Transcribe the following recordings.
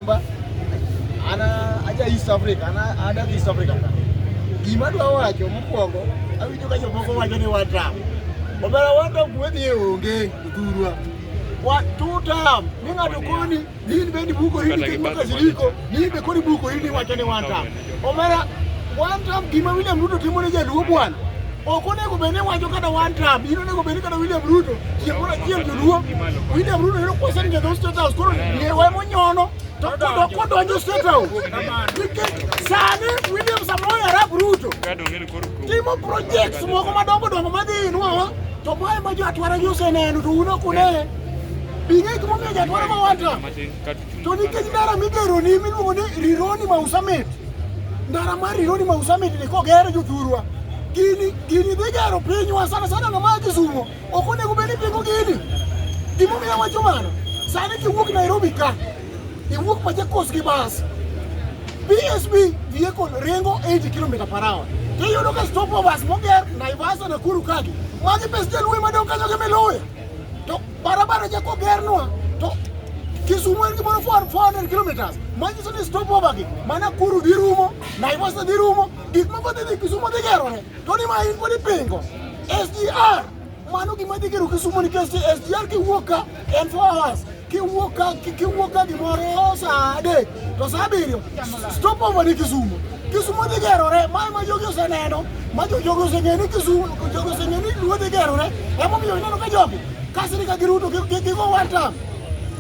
An aja East Africa, an adak East Africa. Gima dwa wacho mokwongo, awinjo ka jomoko wacho ni one term. Omera one term kuwe ni onge dhurwa. Wa two term, ni ng'ato koni, ni in bendi buko hili kendo kasiriko, ni in be koni buko hili wacho ni one term. Omera, one time gima William Ruto timo ne jaluo bwana. Ok onego bed ni wacho kata one time, in onego bed ni kata William Ruto chieng' moro achiel joluo. William Ruto yudo kwesa ni jadho State House koro liewe monyono to kodo kodonjo State House. Nikech sani William Samoei Arap Ruto timo projects moko madongo dongo madhi inwa to mae ma jo atwara gi oseneno to un ok uneye. Bing'e gimomiyo jatwara ma one time. To nikech ndara migero ni miluongo ni Rironi Mausamet, ndara mar Rironi Mausamet ni koger jothurwa gini gini dhi gero pinywa sana sana na magi sumo ok onego bed ni pingo gini gimomiyo wacho mano sani kiwuok Nairobi ka iwuok Machakos gi bas BSB vehicle ringo 80 km per hour tiyudo ka stop overs moger Naivasha Nakuru kagi magi pes jalwe madong kanyo gi miluya Barabara cha kogernwa to Kisumu en gimoro 400 kilometers manyiso ni stop over gi mana Kuru dhi rumo, Naivasha dhi rumo, gik moko dhi dhi Kisumu dhi gerore. To ni ma in pod ipingo. SGR mano gima dhi gero Kisumu nikech SGR kiwuok ka en 4 hours kiwuok ka kiwuok ka gimoro saa adek to saa abiriyo stop over ni Kisumu. Kisumo dhi gerore, mae ma jogi oseneno, ma jogi oseng'eyo ni Kisumo, jogi oseng'eyo ni Luo dhi gerore, emomiyo ineno ka jogi kasri ka giruto gigo one time.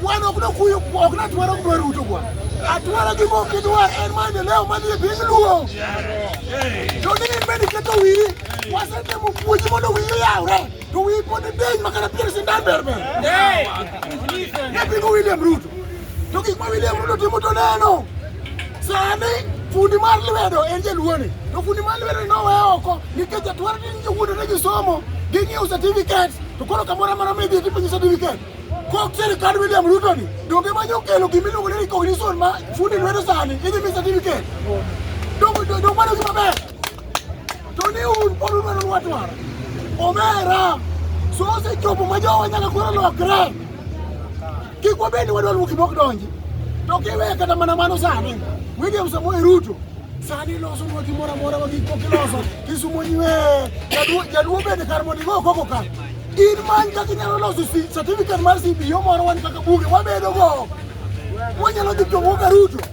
Wan ok nokuyo, ok natwara ok dwaruto kwa. Atwara gi mok gidwa en maendeleo madhi e piny Luo. To ni in bende iketo wiyi, wasetemo puonji mondo wiyi oyawre. du wii ko ne deeñ ma kana président berbe epingo William Ruto to gik ma William Ruto timo to neno sani fundi mar lwedo en jaluoni to fundi mar lwedo nowe oko nikech atwar ni jowuodo ne gisomo ging'iewo certificate to koro kamoro amora midhi tipenyo certificate kok sirikand William Ruto ni donge manyo kelo gimiluongo ni recognition ma fundi lwedo sani idhi mi certificate donge donge mano gima ber toniun pod udwaro lwat mar omera so osechopo ma jowa nyaka koro lokre kik wabed ni wadwa luwo gimok donji to kiwe kata mana mano sani William Samoei Ruto sani loso nwa gimoro amora ma gik mokiloso kisumo nyiwe jaduo bende kar mondo igo koko ka in many kaka inyalo loso certificate mar CBO moro wan kaka bunge wabedogo wanyalo dhi to wuoka Ruto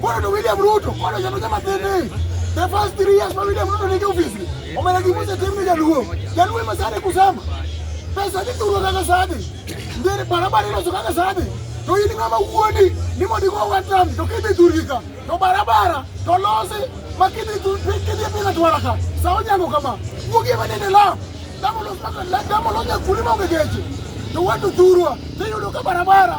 Kono to William Ruto, kono jano jama tene. The first three years ma William Ruto nigi ofisi, omena gimose tim ni jaluo. Jaluo ema sani kusema. Pesa ni turo kaka sani. Ndiri barabara iloso kaka sani. To in ng'ama wuondi ni mondo igo watam to kidhi turika to barabara to losi ma kidhi kidhi pila twara ka sa onyango kama wuogi ema nende lam damo los damo los nyakundi maonge geche to watu thurwa tiyudo ka barabara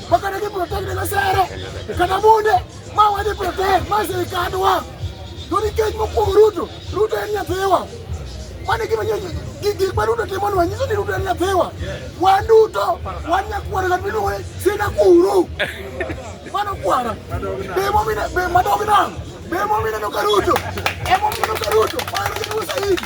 Bakana ki protect na sere. Kana munde ma wadi protect ma se kanwa. Doni kech mo kuom Ruto. Ruto en nyathiwa. Mane gima nyo gigi ma Ruto timo nwa nyiso ni Ruto en nyathiwa. Wan duto wan nyakwara ka biluwe sina kuru. Mano kwara. Bemo mina be madog nam. Bemo mina no ka Ruto. Emo mina no ka Ruto. Mano ni usaidi.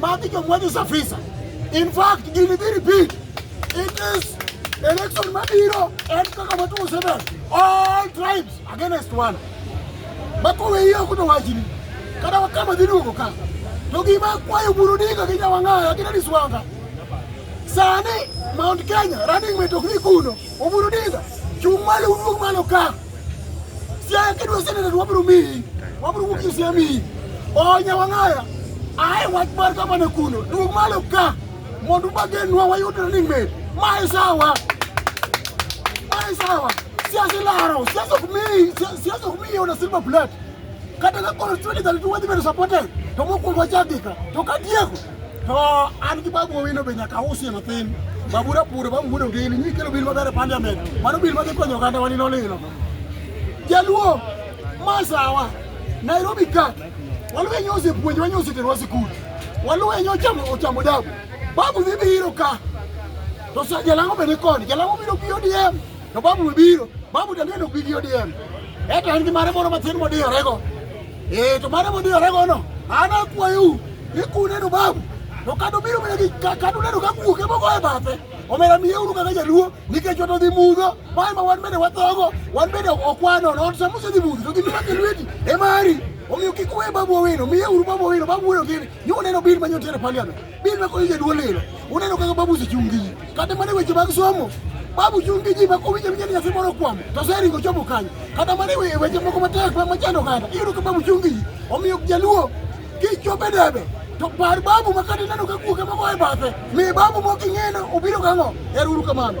Magi jo mwanyo safisa. In fact, gini dhi repeat. It is election mabiro en kaka matuo seven. All tribes against one. Makowe hiyo kuto wachini. Kada wakama dhi duogo ka. To gima kwayo buru diga gi jawang'aya gi Dennis Wanga. Sani Mount Kenya running mate ok ni kuno. Oburu diga. Chung' malo uduog malo ka. Siaya kidwa senate to wabiro miyi, wabiro wuok e Siaya miyi. Onya wang'aya, ae wach mar gavana kuno, duog malo ka mondo ubagenwa wayud running mate. Mae sawa, mae sawa. Siasa ilaro, siasa ok miyi, si- siasa ok miyi ona silver plate. Kata ka koro 2032 wadhi bedo supported, to mokwongo wachak gika, to katieko To an gi babu owino be nyaka usi mathin. Babu rapuro, babu mudo ngili, nyi kelo bil maber e parliament. Mano bil madhi konyo oganda wani nolilo. Jaluo, masawa, Nairobi kat, waluwe nyo osepuonj, wanyo oseterwa sikul. Waluwe nyo ochamo, ochamo dabu. Babu dhi biro ka. To sa jalango be ni koni, jalango biro bi ODM. To babu mobiro, babu to neno bigi ODM. Eto en gi mare moro matin modiyarego. Eh, to mare modiyarego no, an akwayou ni kuneno babu to kata obiro mana gi kata uneno ka kuoke mogo e bathe omera miyeuru kaka jaluo nikech ot odhi mudho mae ma wan bende wathogo wan bende okwano ot sama osedhi mudho to gimira ke lweti e mari omiyo kik uwe babu owino miyeuru babu owino babu wuoyo gini nyo uneno bil ma nyotere parliament Bil ma konyo jaduol lilo. Uneno kaka babu osechung' gi ji. Kata mana weche mag somo, babu chung' gi ji ma kowinjo winjo ni nyathi moro okwamo, to oseringo chopo kanyo. Kata mana e weche moko matek ma machando oganda, iyudo ka babu chung' gi ji. Omiyo jaluo kichopo e debe, to par babu ma kata ineno ka kuoke moko e bathe, mi babu moko ing'eno obiro gang'o. Ero uru kamano.